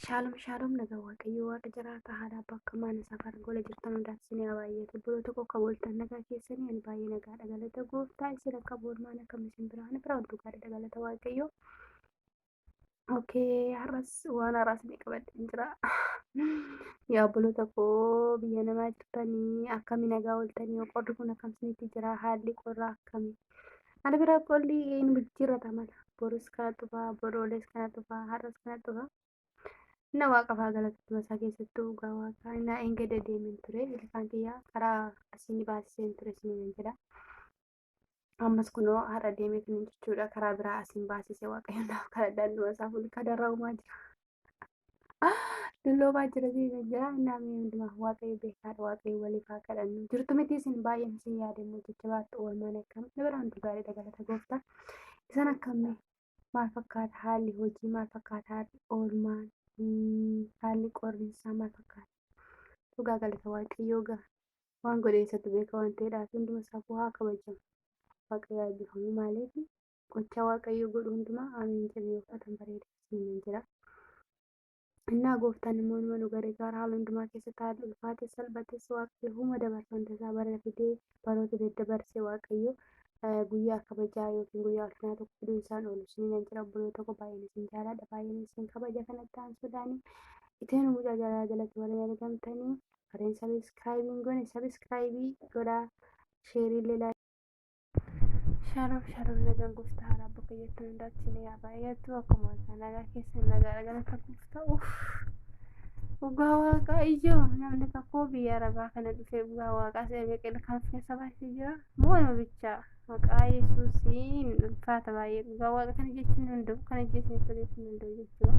Shaalom shaalom nagaa waaqayyoo waaqa jiraataa haadha abbaa akka maana safara gola jirtan hundaaf isin haa baay'atu biroo tokko akka booltan nagaa keessanii ani baay'ee nagaa dhagalata gooftaa isin akka boolmaan akka misin biraa ana biraa hunduu gaadha dhagalata waaqayyoo. Okee har'as waan har'aas ni qabadheen jira. Yaa obboloota koo biyya namaa jirtanii akkami nagaa ooltanii qorri kun akkam isinitti jira haalli qorraa akkami Haala biraa qolli hin jijjiirrata mala. Borus kana dhufa, boroolees kana dhufa, har'as kana dhufa. Inna waaqa faa galatuma isaa keessattuu dhugaa waaqaa inna eengada deemen ture ilkaan kiyya karaa asiin baasiseen ture isiniin jedha. Ammas kunoo har'a deemee kan jechuudha karaa biraa asiin baasise waaqayyoon naaf kadhadhaan dhuma isaa fuulka darraa uumaa jira. Dulloobaa jira siisa jira namni hundumaa waaqayyo beekaadha waaqayyo waliif haa kadhannu jirtu miti isin baay'een isin yaada immoo jajjabaadha oolmaan akkam dabaraa hunduu gaariidha galata gooftaa isan akkamne maal fakkaata haalli hojii maal fakkaata haalli oolmaan haalli qorrinsaa maal fakkaata dhugaa galata waaqayyoo gaa waan godhe isatti beeka waan ta'eedhaaf hunduma safuu haa kabajamu waaqayyo eebbifamu maaliif Gochaa Waaqayyoo godhu hundumaa Ameen jedhu yoo fudhatan bareeda isiniin jedha. Innaa gooftaan immoo numa nu gargaara haala hundumaa keessatti haalli ulfaates salphates Waaqayyo huma dabarsa hunda isaa bara fidee baroota daddabarse Waaqayyo guyyaa kabajaa yookiin guyyaa ulfinaa tokko fiduun isaan oolu isiniin jedha obboloota koo baay'een isin jaaladha baay'een isin kabaja kanatti aansuudhaan iteen mucaa jaalala jalatti warreen argamtanii warreen sabiskiraayibiin gone sabiskiraayibii godhaa sheerii illee Shalom shalom nagaan gooftaa haaraa bakka jettan hundaatti ni haa baay'atu akkuma argaa nagaa keessan nagaa dhagana takuuf ta'u dhugaa waaqaa ijoo namni tokko biyya arabaa kana dhufee dhugaa waaqaa se'a meeqil kan of keessa baasee jira moo nama bichaa maqaa yesuusiin ulfaata baay'ee dhugaa waaqa kana jechuun danda'u kana jechuun danda'u jechuudha.